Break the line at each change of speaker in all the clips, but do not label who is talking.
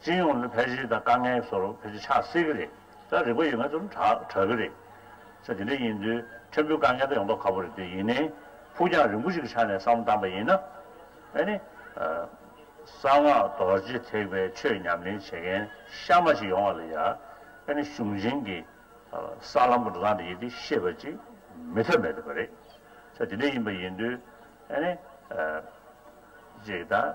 སྤྱི་ཡོངས་ནས་ཕལ་ཆེར་དང་དཀའ་ངལ་ཚོར་བ་ཕལ་ཆེར་ཆགས་སྲིད་ཀྱི་རེད། ད་རིག་པ་ཡོད་མཁན་ཚོར་གྲགས་གྲགས་ཀྱི་རེད། ཚེ་འདི་འདྲ་ཡིན་དུས་ཕྲན་བུའི་དཀའ་ངལ་དག་ཡོང་མདོག་ཁ་པོ་རེད་དེ་ཡིན་ནའི། ཕུགས་རྒྱང་རིང་པོ་ཞིག་གི་ཆ་ནས་བསམ་བློ་བཏང་པ་ཡིན་ན། ཨེ་ནི། གསང་སྔགས་རྡོ་རྗེ་ཐེག་པའི་ཆོས་ཉམས་ལེན་བྱེད་མཁན་གཤའ་མ་ཞིག་ཡོང་བ་ལ་ཡ། ཨེ་ནི་གཞུང་ཆེན་གྱི་ས་ལམ་གྱི་འགྲོ་སྟངས་དེ་ཡིན་དུས་ཤེས་པ་ཅིག་མེད་ཐབས་མེད་ཐུབ་པ་རེད། ཚེ་འདི་འདྲ་ཡིན་པ་ཡིན་དུས་ཨེ་ནི། ཅིག་དང།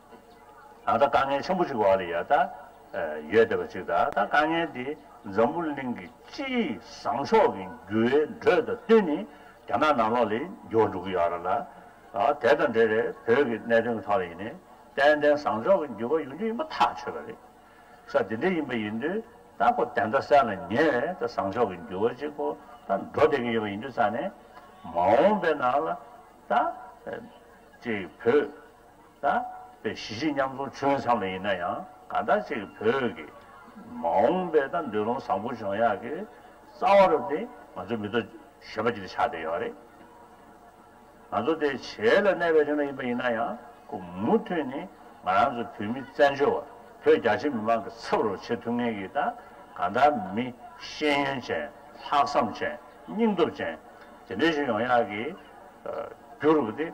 ད་ལྟ་དཀའ་ངལ་ཆེན་པོ་ཞིག་འོག་ལ་ཡོད་ད་ཡོད་བསྡད་པ་ཅིག་ད་ལྟ་དཀའ་ངལ་འདི་འཛམ་བུ་གླིང་གི་སྤྱི་བཟང་ཕྱོགས་ཀྱི་འགྱུར་བའི་འགྲོས་དང་བསྟུན་ནས་རྒྱ་ནག་ནང་ལོགས་ལས་འགྱུར་འགྲོ་གི་ཡོད་ར་ལ། དེ་དང་འབྲེལ་རེས་བོད་ཀྱི་གནད་དོན་གྱི་ཐོག་ལ་ཡིན་ནའི་ཏན་ཏན་བཟང་ཕྱོགས་ཀྱི་འགྱུར་བ་ཡོང་རྒྱུ་ཡིན་པ་ཐག་ཆོད་པ་རེད། ས་དེ་འདྲས་ཡིན་པ་ཡིན་དུས་ད་ཁོ་དེ་འདྲ་གསལ་ལ་ཉེ་བས་ད་བཟང་ཕྱོགས་ཀྱི་འགྱུར་བ་ཅིག་ཁོ་ད་འགྲོ་བསྡད་ཀྱི་ཡོད་པ་ཡིན་དུས་ས་ནས་མ་འོངས་པའི་ནང་ལ་ད། ཅེས་བོད་ད་ལྟའི་གཞིས་བྱེས་མཉམ་འཛོམས་ཆོལ་མཚམས་ལ་ཡིན་ན་ཡང་ག་འདྲ་ཅིག་བོད་ཀྱི་མ་འོངས་པའི་ད་འདོད་རུང་བཟང་པོ་འབྱུང་ཡག་གི་རྩ་བ་རུ་དེ་ང་ཚོའི་མི་ཐོག་ཞེས་པ་ཅིག་ཆགས་བསྡད་ཡོད་རེད། ང་ཚོ་དེ་བྱེས་ལ་གནས་པའི་ཆོལ་ཁ་ཡིན་པ་ཡིན་ན་ཡང་ཁོ་མུ་མཐུད་ནས་ང་རང་ཚོ་བོད་མི་བཙན་བྱོལ་བ་བོད་རྒྱ་ཆེ་མི་མང་གི་ཚབ་རུ་བྱེད་ཐུབ་ངེས་ཀྱི་ད་ག་འདྲ་མི་ཤེས་ཡོན་ཅན་ལྷག་བསམ་ཅན་སྙིང་སྟོབས་ཅན་དེ་འདྲ་ཞིག་ཡོང་ཡག་གི་རྒྱུ་རུ་དེ།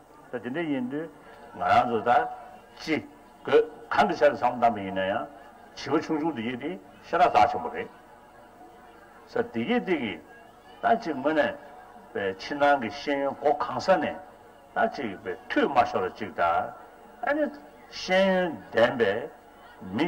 ད་དེ་འདྲ་ཡིན་དུས་ང་རང་ཚོ་ད་ཅི་དགོས་གང་གི་ཆ་ལ་བསམ་བློ་བཏང་པ་ཡིན་ན་ཡང་བྱིས་པ་ཆུང་ཆུང་དེ་གཉིས་དེ་ཤ་ར་དྭགས་ཆེན་པོ་རེད། ས་དེ་གཉིས་དེ་གིས་ད་ཅི་དངོས་ནས་པའི་ཕྱི་ནང་གི་ཤེས་ཡོན་སྒོ་གང་ས་ནས་ད་ཅི་པའི་མཐུད་མ་ཤོར་ར་ཅིག་ད་ཨ་ནི་ཤེས་ཡོན་ལྡན་པའི་མི་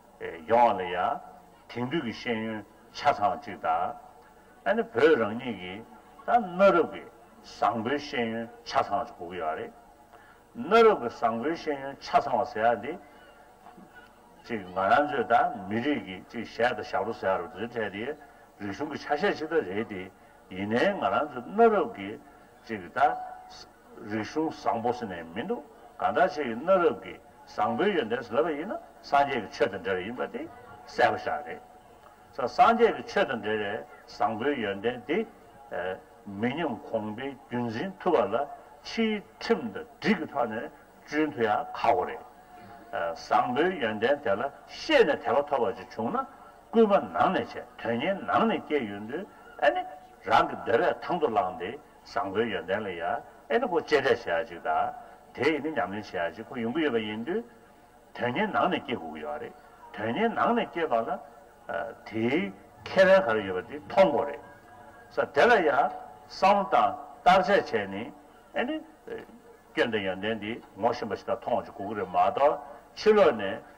ཡོང་བ་ལ་ཡང་དེང་དུས་ཀྱི་ཤེས་ཡོན་ཆ་ཚང་བ་ཅིག་དང། ཨ་ནི་བོད་རང་ཉིད་ཀྱི་ད་གནའ་རབས་ཀྱི་བཟང་པོའི་ཤེས་ཡོན་ཆ་ཚང་བ་ཅིག་གོ་གི་ཡོད་རེད། གནའ་རབས་ཀྱི་བཟང་པོའི་ཤེས་ཡོན་ཆ་ཚང་བ་ཟེར་ཡ་འདི། ཅིག་ང་རང་ཚོའི་ད་མི་རིགས་ཀྱི་ཅིག་གཞས་དང་ཞབས་བྲོ་ཟེར་ཡ་རུ་འདི་འདྲ་དེ་རིག་གཞུང་གི་ཆ་ཤས་ཅིག་ད་རེད་དེ། ཡིན་ནའི་ང་རང་ཚོའི་གནའ་རབས་ཀྱི་ཅིག་གི་དང། རིག་གཞུང་བཟང་པོ་ཟེར་ནས་མི་འདུག་གང་དྲག་ཆེ་གི་གནའ་རབས་ཀྱི་བཟང་པོའི་ཡོན་ཏན་བཟློས་པ་ཡིན་ན་སངས་རྒྱས་ཀྱི་ཆོས་དང་འབྲེལ་བ་ཡིན་པ་དེ་གསལ་པོ་ཤར་རེད། ས་སངས་རྒྱས་ཀྱི་ཆོས་དང་འབྲེལ་བའི་བཟང་པོའི་ཡོན་ཏན་དེ་མི་ཉམས་གོང་འཕེལ་རྒྱུན་འཛིན་ཐུབ་པ་ལ་ཕྱིའི་ཁྲིམས་དང་སྒྲིག་གི་ཐོག་ནས་གཅུན་ཐུབ་ཡང་ཁག་པོ་རེད། བཟང་པོའི་ཡོན་ཏན་དེ་ལ་ཤེས་ནས་དད་པ་ཐོབ་པ་ཅིག་བྱུང་ན་སྐུལ་མ་ནང་ནས་བྱས་དོན་གཉེར་ནང་ནས་སྐྱེས་ཡོད་འདུག་ཨེ་ནི། རང་གི་འདོད་པས་ཐང་དུ་བླངས་ཏེ་བཟང་པོའི་ཡོན་ཏན་ལ་ཡ་ཨེ་ནི་ཁོ་གཅེས་སྤྲས་བྱེད་ཡག་ཅིག་ད། དེ་ཡི་ནི་ཉམས་ལེན་བྱེད་ཡག་ཅིག་ཁོ་ཡོང་གི་ཡོད་པ་ཡིན་དུས། དོན་གཉེར་ནང་ནས་སྐྱེས་དགོས་ཀྱི་ཡོད་རེད། དོན་གཉེར་ནང་ནས་སྐྱེས་པ་ལ། དེའི། ཁེ་ཕན་ག་རེ་ཡོད་པ་དེ་མཐོང་དགོས་རེད། ས་དེ་ལ་ཡ། བསམ་བློ་དང་བརྟག་དཔྱད་བྱས་ནས། ཨེ་ནི། སྐྱོན་དང་ཡོན་ཏན་དེ་ངོ་ཤེས་པ་ཞིག་དང་མཐོང་བ་ཞིག་དགོས་ཀྱི་རེད་མ་གཏོགས་ཕྱི་ལོགས་ནས།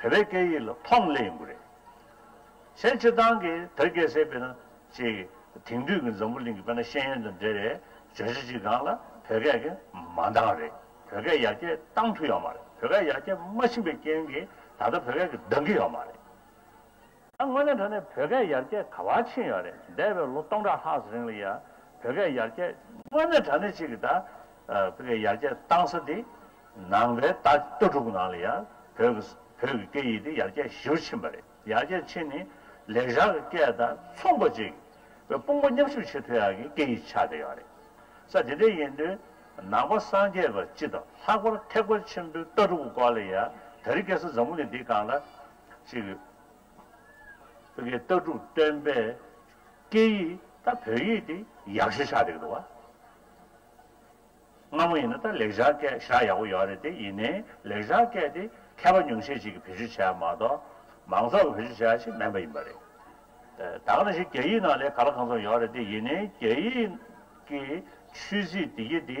བོད་པའི་སྐད་ཡིག་ལ་ཕོངས་སླད་ཡིན་དགོས་རེད། ཕྱེད་སྤྱི་བཏང་གི་བོད་སྐད་བསྲེས་པས་ན་ཅེས་ཀྱི་དེང་དུས་ཀྱི་འཛམ་བུ་གླིང་གི་བོད་ན་ཤེས་ཡོན་དང་འབྲེལ་བའི་བརྗོད་བྱ་ཅི་གང་ལ་བོད་སྐད་ཀྱི་མ་འདང་རེད་བོད་སྐད་ཡར་རྒྱས་བཏང་ཐུབ་ཡོད་མ་རེད་བོད་སྐད་ཡར་རྒྱས་མ་ཕྱིན་པའི་རྐྱེན་གྱིས་ད་ལྟ་བོད་སྐད་ཀྱི་འདང་གི་ཡོད་མ་རེད། དངོས་གནས་འགྲོ་ནས་བོད་སྐད་ཡར་རྒྱས་ག་བ་ཕྱིན་ཡོད་རེད་འདས་པའི་ལོ་སྟོང་ཕྲག་ལྷག་རིང་ལ་ཡ་བོད་སྐད་ཡར་རྒྱས། དངོས་གནས་དྲ་གནས་གཅིག་གི་ད་བོད་སྐད་ཡར་རྒྱས་བཏང་ས་དེ་ནང་པའི་ད་ལྟོ་དྲུག་ནང་ལ་ཡ་བོད་ཀྱི་བོད་ཀྱི་སྐད་ཡིག་དེ་ཡར་རྒྱས་ཞིའུ་ཕྱིན་པ་རེད་ཡར་རྒྱས་ཕྱིན་ནི་ལེགས་བཞག་གི་སྐད་ད་མཚུངས་པ་གཅིག་བའི་དཔུང་པ་མཉམ་ཞུགས་བྱེད་ཐུ་ཡག་གི་སྐད་ཡིག་ཆགས་བསྡད་ཡོད་རེད་ས་དེ་འདྲ་ཡིན་དུས་ནང་པ་སངས་རྒྱས་པ་སྤྱི་དང་ལྷག་པར་ཐེག་པ་ཆེན་པོའི་ལྟ་གྲུབ་ཀྱི་སྐོར་ལ་ཡ་ད་རི་སྐད་ས་འཛམ་བུ་གླིང་འདི་གང་ལ་ཅིག། ཨ་ཁེ་ལྟ་གྲུབ་བསྟན་པའི་སྐད་ཡིག་ད་བོད་ཡིག་དེ་ཡག་ཤེས་ཤག་རེད་འདུག་བ། སྔ་མོ་ཡིན་ན་ད་ལེགས་ཤག་སྐད་ཤག་ཡག་པོ་ཡོད་རེད་དེ་ཡིན་ནའི་ལེགས་ཤག་སྐད་དེ་མཁས་པ་ཉུང་ཤས་ཅིག་གི་བེད་སྤྱོད་བྱས་མ་གཏོགས་མང་ཚོགས་ཀྱི་བེད་སྤྱོད་བྱས་ཤིག་མེད་པ་ཡིན་པ་རེད། ད་ག་རེ་ཞིག་རྒྱ་ཡིག་ནང་ལས་ག་ལ་གང་ཚོགས་ཡོད་རེད་དེ་ཡིན་ནའི་རྒྱ་ཡིག་གི་ཆོས་སྲིད་བདེ་སྐྱིད་དེ་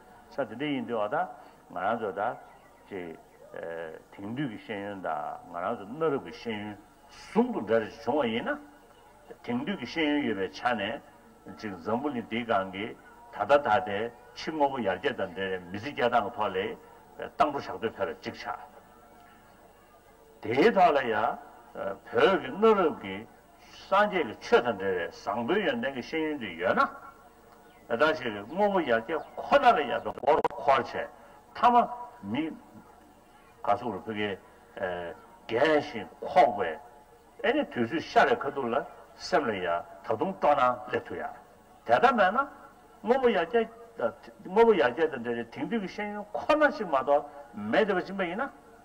ས་དེ་འདྲ་ཡིན་དུས་འོ་ད་ང་རང་ཚོ་ད་ཅེ། དེང་དུས་ཀྱི་ཤེས་ཡོན་དང་ང་རང་ཚོ་གནའ་རབས་ཀྱི་ཤེས་ཡོན་ཟུང་དུ་འབྲེལ་བྱུང་བ་ཡིན་ན། དེང་དུས་ཀྱི་ཤེས་ཡོན་ཡོད་པའི་ཆ་ནས་ཅིག་འཛམ་བུ་གླིང་འདིའི་སྒང་གི་ད་ལྟ་ད་ལྟའི་ཕྱི་དངོས་པོ་ཡར་རྒྱས་དང་འབྲེལ་མི་ཚེ་སྐྱེལ་སྟངས་ཐོག་ལས་སྟངས་སྤྲོ་བཞག་འདོད་ཕེར་ཅིག་ཆགས། དེ་དག་ལ་ཡང་བོད་ཀྱི་གནའ་རབས་ཀྱི་སངས་རྒྱས་ཀྱི་ཆོས་དང་འབྲེལ་བའི་བཟང་པོའི་ཡོན་ཏན་གྱི་ཤེས་ཡོན་དེ་ཡོད་ན། བདག་ཞིག་གི་དངོས་པོ་ཡར་རྒྱས་ཁོ་ན་ལ་ཡར་རྒྱས་མགོ་རུ་འཁོར་བྱས་མཐའ་མ་མི་ག་སུག་རུ་ཕི་གའི་རྒས་ཤིང་འཁོགས་པའི་ཨེ་ནི་དུས་ཚོད་ཤ་རེ་ཁ་ཐུག་ལ་སེམས་ལ་ཡང་ད་དུང་སྤྲོ་སྣང་སླེབས་ཐུབ་ཡ་དེ་ལྟ་མེད་ན་དངོས་པོ་ཡར་རྒྱས་དངོས་པོ་ཡར་རྒྱས་དང་འབྲེལ་བའི་དེང་དུས་ཀྱི་ཤེས་ཡོན་ཁོ་ན་ཞིག་མ་གཏོགས་མེད་དེ་བ་སྦྱིན་པ་ཡིན་ན།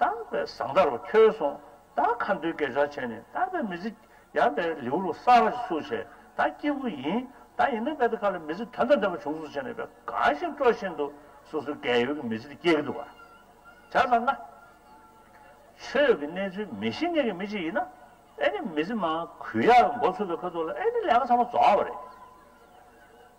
བརྟགས་པའི་བཟང་ལྟ་རུ་ཁྱོད་སོང་བདག་མཁའ་འགྲོའི་སྐད་ཆར་བྱས་ནས་བརྟགས་པའི་མི་ཚེ་ཡངས་པའི་ལེའུ་རུ་གསར་བ་ཞིག་སུ་བྱས་བདག་སྐྱེས་བུ་ཡིན་བདག་ཡིན་ན་བས་དེ་ག་ལ་མི་ཚེ་དོན་དང་ལྡན་པ་བྱུང་སུ་བྱས་ནས་བས་གང་ཞིག་སྤྲོ་བཞིན་དུ་སོ་སོའི་རྒས་ཡོལ་གྱི་མི་ཚེ་དེ་སྐྱེལ་གྱི་འདུག་བར་བྱ་ཙང་ང་ཁྱོད་ཀྱི་གནས་ཚུལ་མི་ཤེས་མཁན་གྱི་མི་ཅིག་ཡིན་ན་ཨེ་ནི་མི་ཚེ་མང་གུས་ཡག་གི་མགོ་ཚུགས་པའི་ཁོལ་ཚུགས་ལ་ཨེ་ནི་ལས་ཀ་ཚང་མ་རྫོགས་བ་རེད།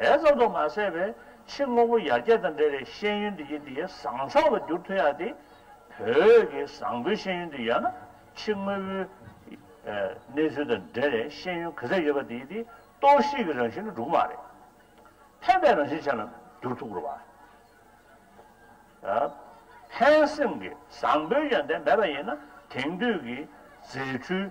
དེ་ཙམ་དུ་མ་ཟད་པའི་ཕྱི་དངོས་པོ་ཡར་རྒྱས་དང་འབྲེལ་བའི་ཤེས་ཡོན་དེ་ཡིད་དེ་ཡི་བཟང་ཕྱོགས་ལ་འགྱུར་ཐུབ་ཡག་སྟེ། བོད་ཀྱི་བཟང་པོའི་ཤེས་ཡོན་དེ་ཡོད་ན་ཕྱི་དངོས་པོའི་གནས་ཚུལ་དང་འབྲེལ་བའི་ཤེས་ཡོན་ག་ཚད་ཡོད་པ་དེ་ཡིད་དེ་གཏོར་བཤིག་གི་རང་བཞིན་ལ་འགྲོ་གི་མ་རེད། ཕན་པའི་རང་བཞིན་ཅན་ལ་འགྱུར་ཐུབ་དགོས་པ། ཕན་སེམས་ཀྱི་བཟང་པོའི་ཡོན་ཏན་མེད་པ་ཡིན་ན་དེང་དུས་ཀྱི་རྫས་འཕྲུལ།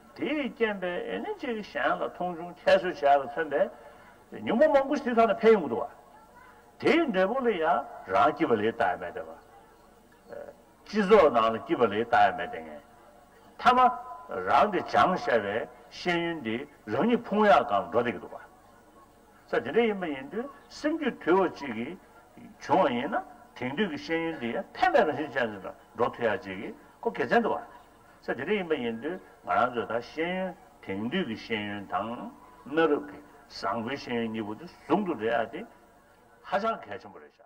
དེས་རྐྱེན་པས་ཨེ་ནི་གཅིག་གཞན་ལ་མཐོང་ཆུང་ཁྱད་གསོད་བྱས་པ་མཚོན་པའི་ཉུང་མ་མང་པོ་ཞིག་དེ་དག་ནས་འཕེལ་ཡོང་གི་འདུག་བ། དེའི་འབྲས་བུ་ལ་ཡང་རང་སྐྱིད་པ་ལས་ལྟ་ཡ་མེད་པས་བ། སྤྱི་ཚོགས་ནང་ལ་སྐྱིད་པ་ལས་ལྟ་ཡ་མེད་ལྟས་ངན། མཐའ་མ། རང་གི་བྱང་ཤར་བའི་ཤེས་ཡོན་འདིས་རང་ཉིད་ཕུང་ཡག་གང་ལ་འགྲོ་བསྡད་ཀྱི་འདུག་བ། ས་དེ་འདྲ་ཡིན་པ་ཡིན་དུས་སེམས་རྒྱུད་དུལ་བ་ཅིག་གིས་བྱུང་བ་ཡིན་ན་དེང་དུས་ཀྱི་ཤེས་ཡོན་འདི་ཡང་ཕན་པའི་རང་བཞིན་ཅན་ཞིག་ལ་འགྲོ་ཐུ་ཡག་ཅིག་གི་སྐོར་དགེ་མཚན་འདུག་བ། ཚེ་དེ་རིང་ཡིན་པ་ཡིན་དུས་ང་རང་ཚོས་ད་ཤེས་ཡོན་དེང་དུས་ཀྱི་ཤེས་ཡོན་དང། གནའ་རབས་ཀྱི་བཟང་པོའི་ཤེས་ཡོན་གཉིས་པོ་དེ་ཟུང་དུ་སྦྲེལ་བ་དེ་ཧ་ཅང་གལ་ཆེན་པོ་རེད་བྱ།